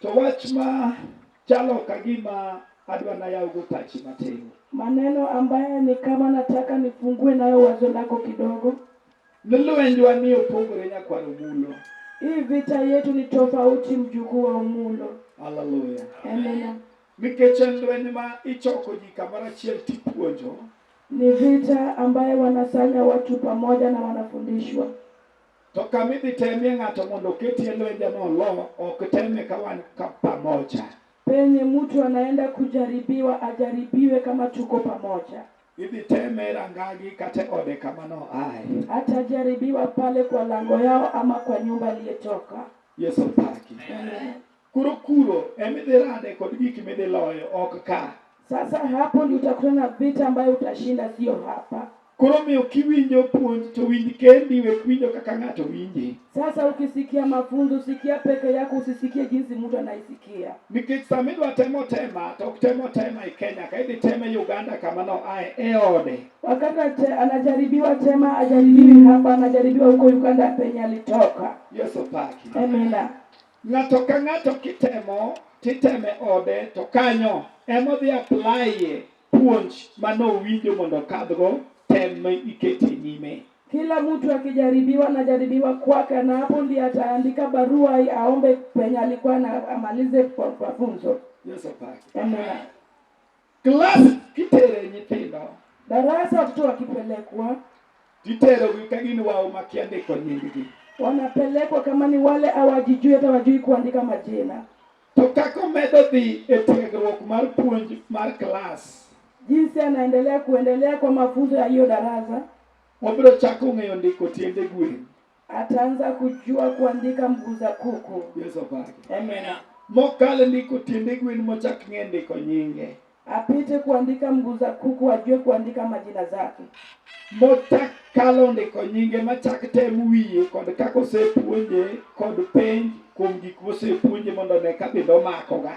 To wach ma chalo ka gima adwa nayawgo pachi matin. Maneno ambaye ni kama nataka nifungue nayo wazo lako kidogo. Ni lwenjwa ni opogore nyakwar Omulo. Hii vita yetu ni tofauti mjukuu wa Omulo. Haleluya. Amina. Nikech en lweny ma ichoko ji kamoro achiel tipuonjo. Ni vita ambaye wanasanya watu pamoja na wanafundishwa. To kama idhi temie ng'ato mondo oketie lwenje ma olo, ok teme ka wan ka pamoja. Penye mtu anaenda kujaribiwa ajaribiwe kama tuko pamoja. Idhi teme e rangagi kata e ode kama noaye. Atajaribiwa pale kwa lango yao ama kwa nyumba aliyetoka. Yesu paki. Amen. Kuro kuro emidhi rade kod gik midhi loyo ok ka. Sasa hapo ndio utakuwa na vita ambayo utashinda, sio hapa. Koro miyo kiwinjo puonj to winj kendi, we winjo kaka ng'ato winji. Sasa ukisikia mafunzo sikia peke yako, usisikie jinsi mtu anaisikia. Nikech sama idwa temo tema to ok temo tema e Kenya ka idhi teme Uganda kama no ae e ode. Wakati anajaribiwa tema ajaribiwi hapa, anajaribiwa huko Uganda penye alitoka. Yesu paki. Amina. Ng'ato ka ng'ato kitemo titeme ode to kanyo emodhi aplaye puonj manowinjo mondo okadhgo tem ma ikete nyime. Kila mtu akijaribiwa najaribiwa kwake, na hapo ndiye ataandika barua hii aombe penye alikuwa na amalize kwa mafunzo. Yesu apake. Amina. Klas kitere nyithindo. Darasa watoto wakipelekwa. Titerogi ka gin wao makia ndiko nyinggi. Wanapelekwa kama ni wale hawajijui hata wajui kuandika majina. To kaka omedo dhi e tiegruok mar puonj mar klas. Jinsi anaendelea kuendelea kwa mafunzo ya hiyo darasa. Wabiro chako ng'eyo ndiko tiende gwen. Ataanza kujua kuandika mguu za kuku. Yesu apake. Amen. Mokale ndiko tiende gwen mochak ng'e ndiko nyinge. Apite kuandika mguu za kuku ajue kuandika majina zake. Mochak kalo ndiko nyinge machak tem wiye kod kaka osepuonje kod penj kuom gik mosepuonje mondo ne ka bende omakoga.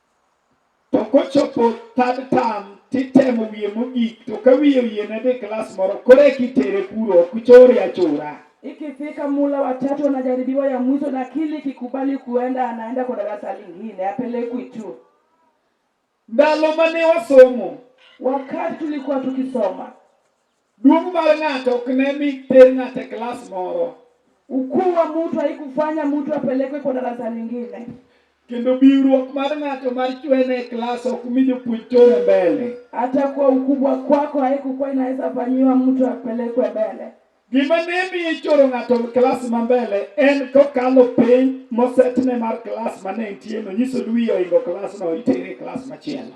To kochopo third term titemo wiye mogik to ka wiye oyiene dhi klas moro koro eka itere kuro ok chore achora. Ikifika mula wa tatu anajaribiwa ya mwisho na kili kikubali kuenda anaenda kwa darasa lingine apelekwi tu. Ndalo mane wasomo Wakati tulikuwa tukisoma Duong' mar ng'ato ok ne mi ter ng'ato e klas moro. Ukuu wa mtu haikufanya mtu apelekwe kwa darasa lingine. Kendo biwruok mar ng'ato mar chwene e klas ok mi jopuonj chore mbele. Hata kwa ukubwa kwako haikukuwa inaweza fanyiwa mtu apelekwe mbele. Gima ne mi ichoro ng'ato e klas ma mbele en kokalo penj mosetne mar klas ma ne entieno, nyisoni wiye ohingo klasno, itere e klas machielo.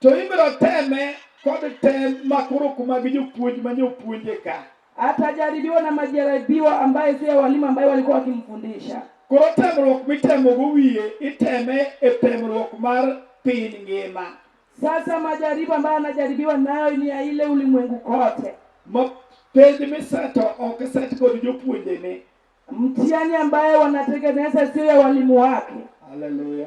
To ibiro teme kod tem makoro kuma gi jopuonj ma nyopuonje ka. Atajaribiwa na majaribiwa ambaye si ya walimu ambaye walikuwa wakimfundisha. Koro temruok mitemogo wiye iteme e temruok mar piny ngima. Sasa majaribu ambayo anajaribiwa nayo ni ya ile ulimwengu kote. Ma penj miseto ok set kod jopuonjene. Mtihani ambaye wanatengeneza sio ya walimu wake. Haleluya.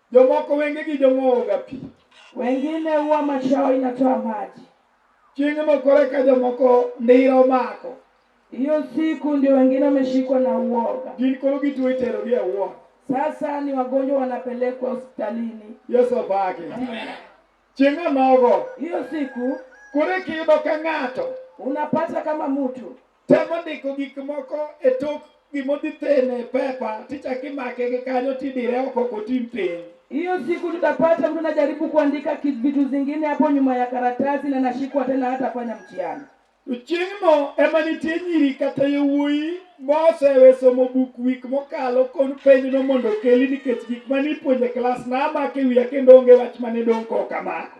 Jomoko wengegi jong'owoga pi. Wengine huwa macho yao inatoa maji. Chieng' moko reka jomoko ndira omako. Hiyo siku ndio wengine wameshikwa na uoga. Gin koro gituo iterogi e ward. Sasa ni wagonjwa wanapelekwa hospitalini. Yesu obake. Chieng' onogo. Hiyo siku Koro ikiyudo ka ng'ato unapata kama mtu temo ndiko gik moko e tok gimodhi thene pepa tichak imake gi kanyo tidire oko kotim piny hiyo siku tutapata mtu anajaribu kuandika vitu zingine hapo nyuma ya karatasi na nashikwa tena hata fanya mtihani chieng'no ema nitie nyiri kata yowuoyi mosewe somo buk wik mokalo kon penjno mondo okeli nikech gik mane ipuonjo e klas namake wiya kendo onge wach mane dong' kokamako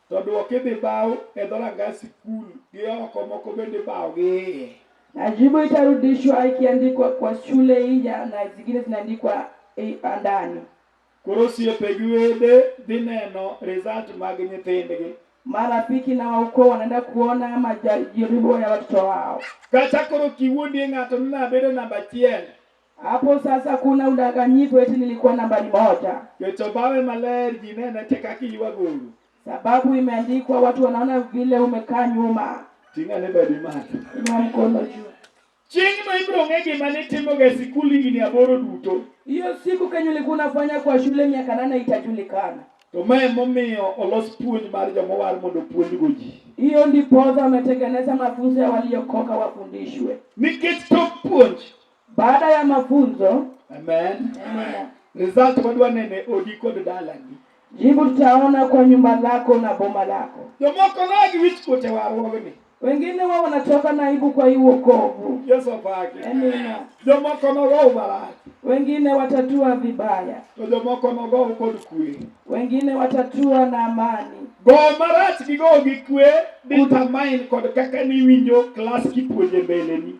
To dwoke be baw e dhoranga sikul gi oko moko bende baw gi iye. Majibu itarudishwa ikiandikwa kwa shule ija na zingine zinaandikwa ndani. Koro osiepe gi wede dhi neno result mag nyithindgi. Marafiki na waukoo wanaenda kuona majaribu ya watoto wao. Kata koro kiwuondie ng'ato ni nabedo namba achiel. Hapo sasa kuna udanganyifu eti nilikuwa nambari moja. Kechobawe maler jinene tekakiwa guru. Sababu imeandikwa watu wanaona vile umekaa nyuma. Tinga ne badi mali. Inua mkono juu. Chieng' ma ibiro ng'e gima nitimoga e sikul higni aboro duto. Hiyo siku kenye ulikuwa unafanya kwa shule miaka nane itajulikana. To ma emomiyo olos puonj mar joma owal mondo opuonjgo ji. Hiyo ndiposa wametengeneza mafunzo ya waliokoka wafundishwe. Nikech tok puonj Baada ya mafunzo. Amen. Amen. Result wadwa nene odi kod dalani. Jibu tutaona kwa nyumba lako na boma lako. Jomoko nagi wich kote warwogni. Wengine wao wanatoka na aibu kwa hii wokovu. Yesu apake. Amina. Jomoko nogo marach. Wengine watatua vibaya. To jomoko nogo kod kwe. Wengine watatua na amani. Go marach gi go gi kwe determine kod kaka niwinjo klas kipuonje mbeleni.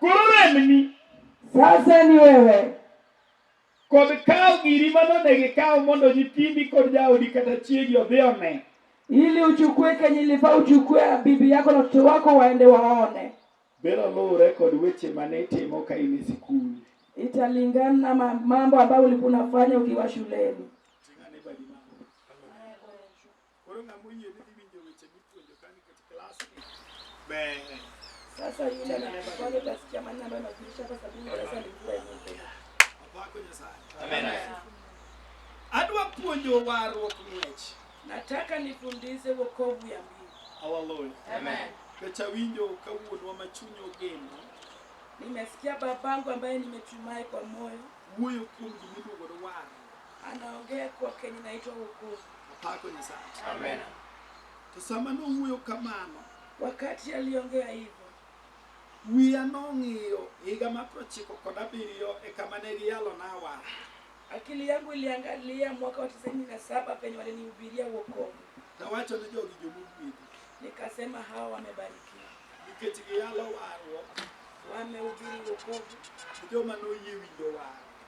Koro remni. Sasa ni wewe. Kod kawo giri manonegi kawo mondo nyithindi kod jaodi kata chiegi odhi one. Ili uchukue kenye ilifaa uchukue bibi yako na watoto wako waende waone. Biro luwre kod weche mane itimo ka in e sikul. Italingana na mambo ambayo ulikuwa unafanya ukiwa shuleni. Koro ng'ama oyie ni dhi winjo weche mipuonjo ka nikech klas ni ber. Sasa yule anakubali utasikia maneno ambayo najulisha kwa sababu darasa lilikuwa hivi. Wako Nyasaye. Amen. Adwa puonjo warruok ng'wech. Nataka nifundishe wokovu ya mbingu. Hallelujah. Amen. Kecha winjo ka wuonwa ma chuny ogeno Nimesikia babangu ambaye nimetumai kwa moyo wuoyo kuom gimiluongo ni warruok. Anaongea kwa Kenya inaitwa wokovu. Apako Nyasaye. Amen. To sama nowuoyo kamano, Wakati aliongea hivyo, wiya nong'iyo higa mar prochiko kod abiriyo e kama ne giyalona wach. akili yangu iliangalia mwaka wa tisini na saba penye walinihubiria wokovu. Nawacho ni jogi jomogwedhi Nikasema hawa wamebarikiwa, nikech giyalo warruok wamehubiri wokovu ni joma noyie winjo wach.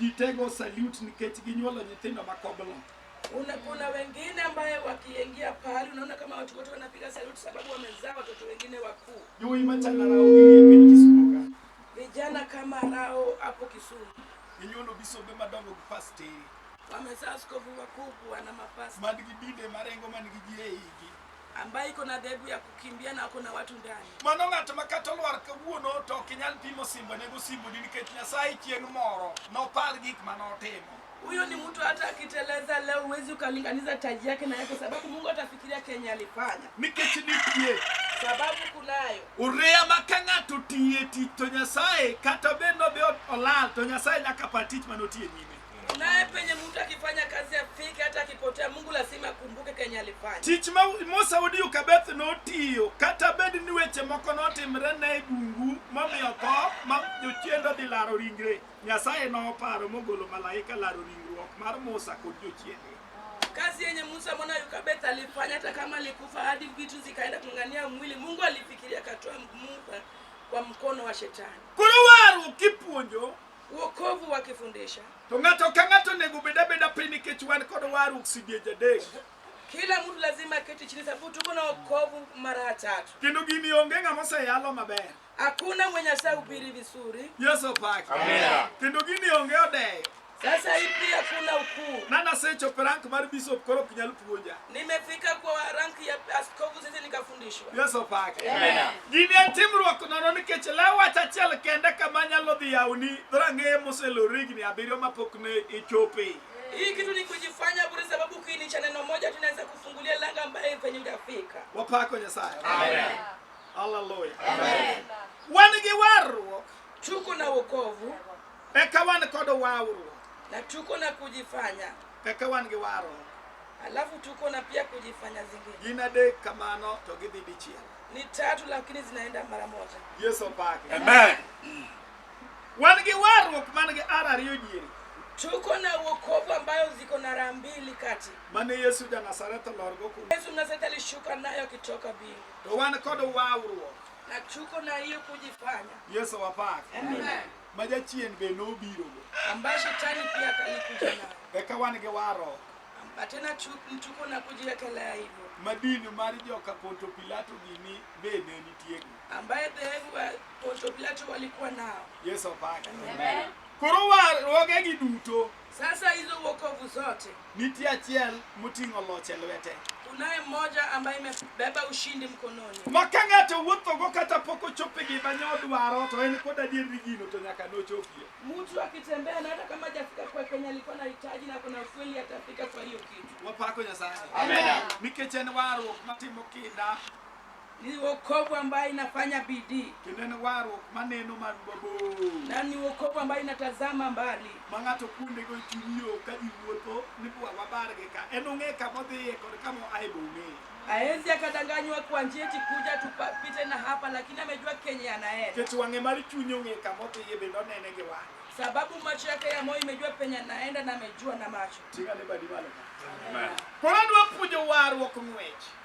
Jitego salute nikech ginyuolo nyithindo ma koblo. Una, kuna wengine ambaye wakiingia pahali unaona kama watu wote wanapiga saluti sababu wamezaa watoto wengine wakuu. Yowuoyi machalo rawo gini e piny Kisumo ka. Vijana kama Rao hapo Kisumu Ginyuolo bisombe madongo gi pasteri wamezaa askofu wakubwa na mapasta man gi dinde marengo man gi ji e igi. ambaye iko na dhehebu ya kukimbia na ako na watu ndani. Mano ng'at ma kata olwar kawuono to ok inyal pimo simbone gosimboni nikech Nyasaye chieng' moro nopar gik ma notimo. Huyo ni mtu hata akiteleza leo huwezi ukalinganiza taji yake na yake, sababu Mungu atafikiria kenye alifanya, Nikech nitie sababu kunayo ureya ma ka ng'ato tiye tich to Nyasaye kata bed nobe olal to Nyasaye nyaka par tich manotiye nyime. Naye penye mtu akifanya kazi afike, hata akipotea, Mungu lazima akumbuke kenye alifanya. Tich ma Musa wuod Yokabeth notiyo kata bed ni weche moko notimre ne bungu momiyo tho ma jochiende odhi laro ringre, Nyasaye noparo mogolo malaika laro ringruok mar Musa kod jochiende. Kazi yenye Musa mwana Yokabeth alifanya, hata kama alikufa hadi vitu zikaenda kung'ang'ania mwili, Mungu alifikiria akatoa Musa kwa mkono wa shetani. Koro warruok kipuonjo Wokovu wakifundisha To ng'ato ka ng'ato onego obed abeda piny nikech wan kod warruok sidiech adek. kila mtu lazima aketi chini, sababu tuko na wokovu mara tatu. Kendo gini onge ng'ama oseyalo maber. Hakuna mwenye asahubiri vizuri. Yesu opaki. Amina. Kendo gini onge odeyo. Sasa hii pia kuna ukuu. Nana secho prank mar bishop koro ok nyal puonja. Nimefika kwa ranki ya askofu sisi nikafundishwa. Yesu pake. Amen. Gini en timruok nono nikech law wach achiel kende kama nyalo dhi yawni rangeye moselor higni abiriyo mapok ne ichope. Hii kitu ni kujifanya bure sababu kini cha neno moja tunaweza kufungulia langa ambaye kwenye utafika. Wapako Nyasaye. Amen. Hallelujah. Amen. Wan gi warruok. Tuko na wokovu. Eka wan kod warruok. Na tuko na kujifanya. Eka wan gi warruok. Alafu tuko na pia kujifanya zingine Gin adek kamano to gidhi dichiel. ni tatu, lakini zinaenda mara moja. Yesu opake. Amen. Wan gi warruok man gi ara ariyo diere. Tuko na wokovu ambayo ziko na raha mbili kati. Mane Yesu ja Nazareth olorgo kuno. Yesu Mnazareti alishuka nayo akitoka mbingu, To wan kod warruok. na tuko na hiyo kujifanya. Yesu opake. Amen. ma jachien be nobirogo. ambaye shetani pia alikuja nayo, Eka wan gi warruok Amba tena tu- tuko na kujiwekelea hivyo, ma din mar joka Ponto Pilato gini be ne nitiego. ambaye dhehebu wa Ponto Pilato walikuwa nao. Yesu opake. Amen. Koro warruogegi duto Sasa hizo wokovu zote, Nitie achiel moting'o loch e lwete. kunaye mmoja ambaye imebeba ushindi mkononi, Ma ka ng'ato wuothogo kata pok ochopo e gima ne odwaro to en kod adier ni gino to nyaka nochopie. mtu akitembea na hata kama hajafika kwa kwenye alikuwa anahitaji, na kuna ukweli atafika kwa hiyo kitu. Wapako Nyasaye. Amen. Nikech en warruok matimo kinda Ni wokovu ambayo inafanya bidii kendo en warruok maneno man mabor na ni wokovu ambayo inatazama mbali. ma ng'ato kuondego e chuny yo ka ji wuotho ni bwa wabargi ka en ong'e kama odhiye kod kama oaye be ong'eyo Haezi akadanganywa kwa njia eti kuja tupite na hapa, lakini amejua kenye anaenda, nikech wang'e mar chuny ong'e kama odhiye bende onene gi wang'e sababu macho yake ya moyo imejua penye anaenda na amejua na macho. ting'ane badi malo ka Amen. koro adwa puonjo warruok ng'wech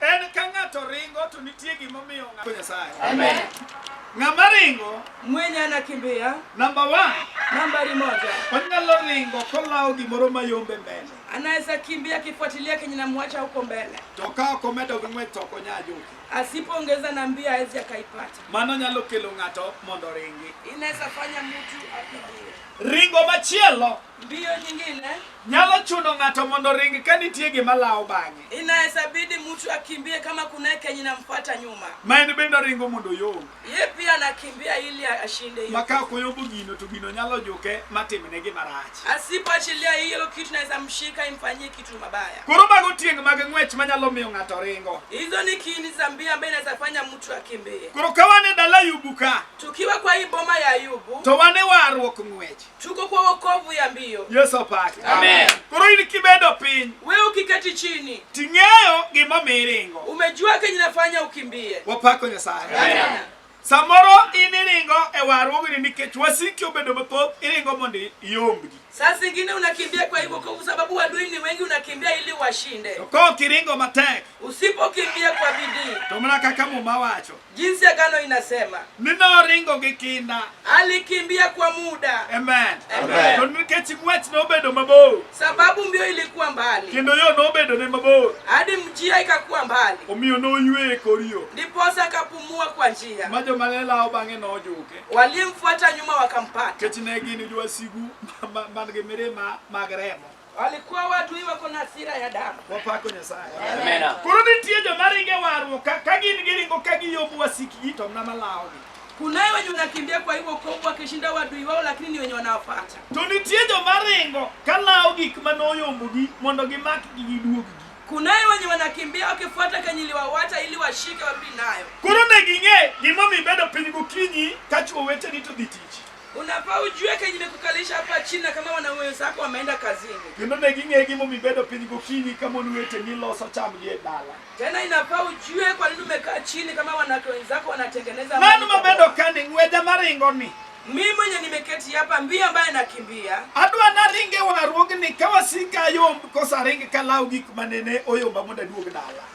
En ka ng'ato ringo to nitie gima omiyo ng'ato Nyasaye. Amen. Ng'ama ringo Mwenye anakimbia namba 1 nambari moja. onyalo ringo kolawo gimoro mayombe mbele Anaweza kimbia akifuatilia kenye namwacha huko mbele. to ka ok omedo gi ng'wech to ok onya ajuki. Asipoongeza na mbio hawezi akaipata. Mano nyalo kelo ng'ato mondo oringi. Inaweza fanya mtu akimbie. Ringo machielo Mbio nyingine Nyalo chuno ng'ato mondo oring ka nitie gima lawo bang'e. inaweza bidi mtu akimbie kama kunaye kenye inamfuata nyuma. Ma en bende oringo mondo oyomb. Ye pia anakimbia ili ashinde hiyo. Ma ka ok oyombo gino to gino nyalo juke matimne gima rach. Asipoachilia hiyo kitu inaweza mshika imfanyie kitu mabaya. Koro mago tieng' mag ng'wech manyalo miyo ng'ato ringo. Hizo ni kiini za mbio ambaye inaweza fanya mtu akimbie. Koro ka wan e dala Ayubu ka Tukiwa kwa hii boma ya Ayubu, to wan e warruok ng'wech. Chuko kwa wokovu ya mbio. Yesu opaki. Amen. Koro in kibedo piny. Wewe ukiketi chini. Ting'eyo gima miringo. Umejua kenye nafanya ukimbie. Wapako Nyasaye. Amen. Samoro in iringo e warruokni nikech wasiki obedo mathoth, iringo mondo iombgi. Saa zingine unakimbia kwa hivyo kwa sababu adui ni wengi, unakimbia ili washinde. To kiringo matek, usipokimbia kwa bidii, to mana kaka Muma wacho Jinsi agano inasema. Ninoringo gi kinda. Alikimbia kwa muda. Amen. Amen. To nikech ng'wech nobedo mabor. Sababu mbio ilikuwa mbali. Kendo yo nobedo ne mabor. Hadi njia ikakuwa mbali. Omiyo noywe e kor yo. Ndiposa akapumua kwa njia. Ma joma ne lawo bang'e nojuke. Waliomfuata nyuma wakampata. Nikech ne gin jowasigu man gi mirima mag remo. Walikuwa watu hiwa kuna hasira ya damu. Wapako Nyasaye. Amena. Koro nitie joma ringe warruok ka ka gin giringo ka giyobu wasikgi to mna malawogi. Kunaye wenye unakimbia kwa hivyo kovu wakishinda wadui wao, lakini ni wenye wanawafuata. To nitie joma ringo ka lawo gik ma noyombogi mondo gimakgi giduoggi. Kunaye wenye wanakimbia wakifuata kenye iliwawacha ili washike warudi nayo. Koro ne ging'e gimomiyo ibedo piny gokinyi ka chwo weteni to dhi tich. Unafaa ujue kenye imekukalisha hapa chini na kama wanaume wenzako wameenda kazini. Kendo ne ging'e gimomiyo ibedo piny gokinyi ka mon weteni loso chamgi e dala. Tena inafaa ujue kwa nini umekaa chini kama wanawake wenzako wanatengeneza Mano amani mabedo pamoja. ka ni ng'weja maringo ni. Mimi mwenye nimeketi hapa mbio ambaye nakimbia. Adwa naringe warruogni ka wasika ayomb koso aringe kalawo gik manene oyomba mondo aduog dala.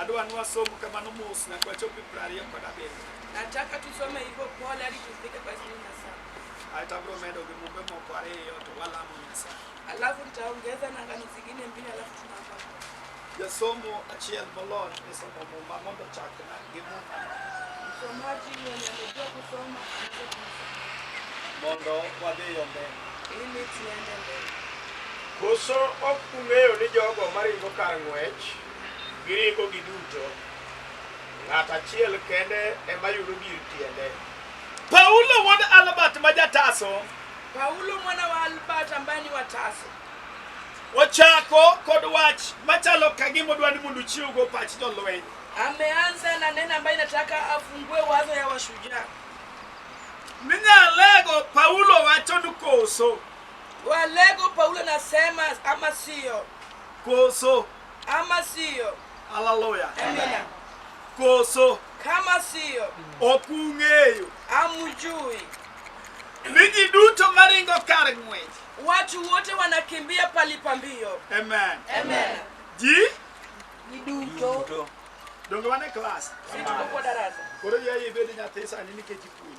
Adwa ni wasom kamano mos nyaka wachop e piero ariyo kod abiriyo. Nataka tusome hivyo pole hadi tufike kwa ishirini na saba. Ae to abiro medo gi mumbe moko ariyo to walamo Nyasaye. Alafu nitaongeza na ngano zingine mbili alafu tunaomba. Jasomo achiel molony e somo muma mondo chakna gi muma. Msomaji mwenye amejua kusoma anaweza kumsoma. Mondo wadhi yo mbele. Ili tuende mbele. Koso ok ung'eyo ni jogo maringo kar ng'wech Gi richogi duto, ng'at achiel kende ema yudo gir tiende. Paulo wuod Albert ma Jataso. Paulo mwana wa Albert ambaye ni Wataso. Ochako kod wach machalo kagima odwa ni mondo uchiwgo pach jolweny. Ameanza na neno ambayo inataka afungue wazo ya washujaa. Minyalego Paulo wacho ni koso. Walego Paulo nasema ama sio. Koso. ama siyo haleluya amina koso kama siyo ok ung'eyo amujui ni ji duto maringo kar ng'wech watu wote wanakimbia palipa mbio amen amen ji duto donge wane klas situko kwa darasa koro yaye ibedo nyathi sani nikech ipuonj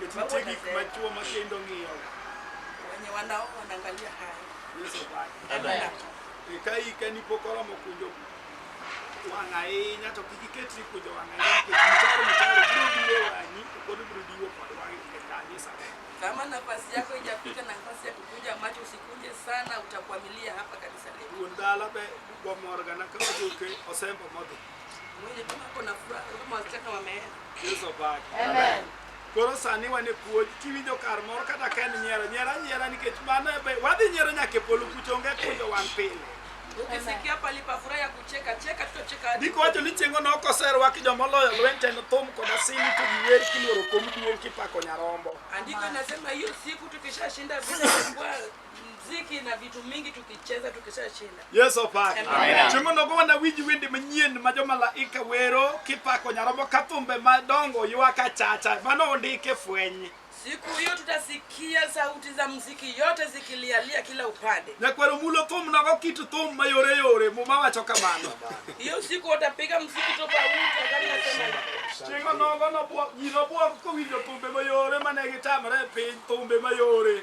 Nikech But nitie what I gik said- ma chwo ma kendo ng'iyo wenye wanao wanaangalia haya nyiso wach. Amen. E, Ka ike ni pok oromo kunjo wang' ahinya to kik iket ni kunjo wang' ahinya nikech mitaro mitaro biro biro e wang'i to pod biro diwo kod wang'i e kanisa. kama nafasi yako ijafika na nafasi ya kukunja macho usikunje sana utakwamilia hapa kanisa letu Wuon dala be gomorga na ka ojuke osembo modhi. Amen. Koro sani wan e puonj kiwinjo kar moro kata ka en nyiero nyiera nyiera nikech mano e be- wadhi nyiero nyaka e polo kucho onge kunjo wan pile. Ukisikia palipofurai ya kucheka cheka, tutacheka hadi Ndiko wacho ni chieng'o no koserwaki joma oloyo lweny to enothum kod asili to giwer kiluoro kom duong' kipako nyarombo. Andiko inasema hiyo siku tukishashinda vita vya mbwa mziki na vitu mingi tukicheza tukishashinda. Yes, opaki. Amen. Chieng' onogo wanawinj wende manyien ma jomalaika wero kipako Nyarombo ka thumbe madongo ywak achacha. Mano ondik e fweny. Siku hiyo tutasikia sauti za mziki yote zikilialia kila upande. Nyakwaro mulo thum nogo kit thum mayore yore muma wacho kamano. Hiyo siku watapiga mziki tofauti wakati nasema hivyo. Chieng' onogo nobwo- ji nobwog kowinjo thumbe mayore mane gitamre e piny thumbe mayore.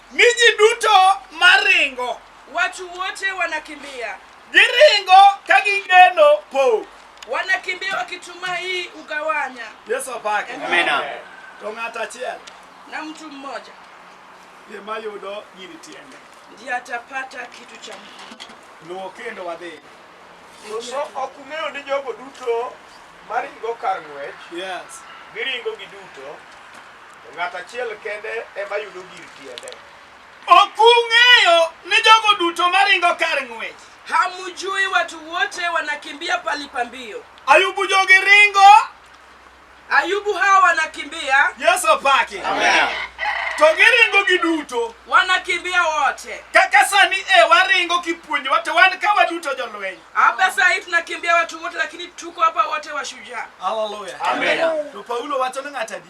Mi ji duto maringo. Watu wote wanakimbia. Giringo ka gigeno pok. Wanakimbia wakitumai ugawanya. Yesu apake. Amina. To ng'ato achiel. Na mtu mmoja. Ema yudo gini tiende. Ndiye atapata kitu cha muhimu. Luwo kendo wadhi. Koso ok ung'eyo ni jogo duto maringo kar ng'wech. Yes. Giringo giduto. To ng'ato achiel kende ema yudo gir tiende. Ok ung'eyo ni jogo duto maringo kar ng'wech. Hamujui watu wote wanakimbia pali pa mbio? Ayubu jogi ringo. Ayubu hawa wanakimbia. Yesu opaki. Amen. To giringo giduto. Wanakimbia wote. Kaka sani e waringo kipuonjowa to wan ka waduto jolweny. Hapa saa hii tunakimbia watu wote lakini tuko hapa wote washujaa. Haleluya. Amen. To Paulo wacho ni ng'ata di.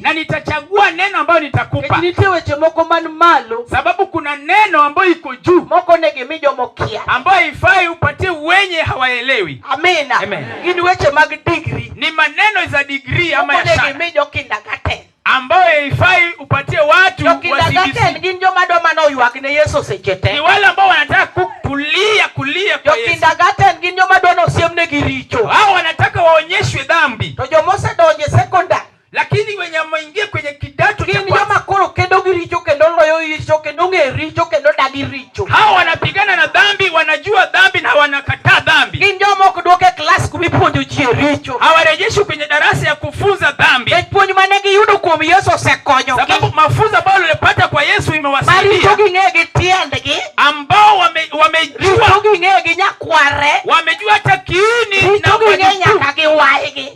na nitachagua neno ambayo nitakupa. Nitie weche moko man malo, sababu kuna neno ambayo iko juu, moko ne gimi jomo kia, ambayo ifai upatie wenye hawaelewi. Amina, amen. Gin weche mag degree, ni maneno za degree ama ya shahada, moko ne gimi jo kindergarten ambayo ifai upatie watu wa CBC. Gin joma dwa mana oywak ne Yesu seche te, ni wale ambao wanataka kulia kulia kwa Yesu. Jo kindergarten gin joma dwa ni osiemnegi richo, hao wanataka waonyeshwe dhambi, to joma osedonje lakini wenye wameingia kwenye kidato cha kwanza joma koro kendo gi richo kendo loyo richo kendo ng'e richo kendo dagi richo. Hao wanapigana na dhambi, wanajua dhambi na wanakataa dhambi. Gin joma ok duoke klas kuma ipuonjo ji richo. Hawarejeshi kwenye darasa ya kufunza dhambi. Nikech puonj mane giyudo kuom Yesu osekonyo. Sababu mafunzo ambayo walipata kwa Yesu imewasaidia. Maricho ging'eyo gi tiendgi. Ambao wame, wamejua. Richo ging'eyo gi nyakware. Wamejua hata kiini na wajukuu. Richo ging'eyo nyaka gi waygi.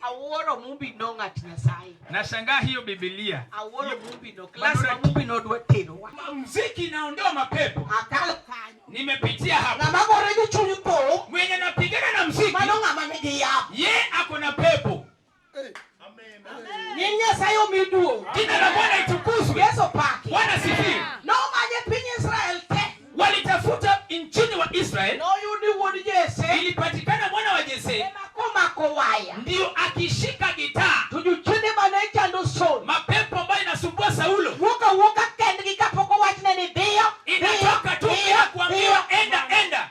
Awuoro mumbi no ng'at Nyasaye. Nashangaa hiyo Biblia. Awuoro mumbi no. Class wa mumbi no dwa terowa. Muziki inaondoa mapepo. Akalo kanyo. Nimepitia hapa. Na mambo rejo chunyu po. Mwenye napigana na muziki. Mano ng'ama nigi yapo. Ye ako na pepo. Nying Nyasaye omi duong'. Jina la Bwana itukuzwe. Yesu paki. Bwana sifiwe. Nomanye piny Israel te. Walitafuta nchini wa Israel. Noyudi wuod Jese. Ilipatikana mwana wa Jese. Ema komako waya. Ndio akishika gitaa. Tujuchinde mane chando Saul. Mapepo ambayo inasumbua Saulo. Wuka wuka kendgi kapoko wachne ni dhiyo. Inatoka tu bila kuambiwa enda enda.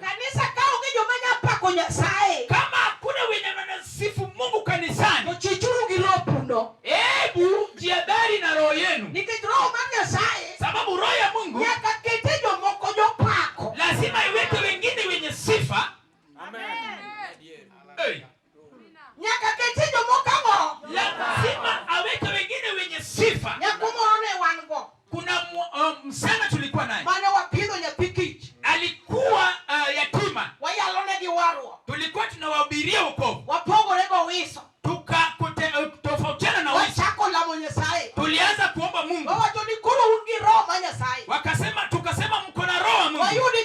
Kanisa ka onge joma nya pako Nyasaye, kama hakuna wenye wanasifu Mungu kanisani, ochichuru gi lopuno, hebu jiadhari na roho yenu, nikech roho mar Nyasaye, sababu roho ya Mungu nyaka kete jomoko jopako, lazima iweke wengine wenye sifa. Amen. Hey. Nyaka kete jomoko ang'o? Lazima aweke wengine wenye sifa. Nyako moro ne wan go. Kuna uh, msichana tulikuwa naye. Mane wapidho nyathi kich. Alikuwa uh, yatima. Wayalo ne gi warwo. Tulikuwa tunawahubiria wokovu. Wapogore go wiso. Tuka uh, tofautiana na wiso. Wachako lamo Nyasaye. Tulianza kuomba Mungu. Wawacho ni koro un gi roho ma Nyasaye. Wakasema tukasema mko na roho wa Mungu. Wayudi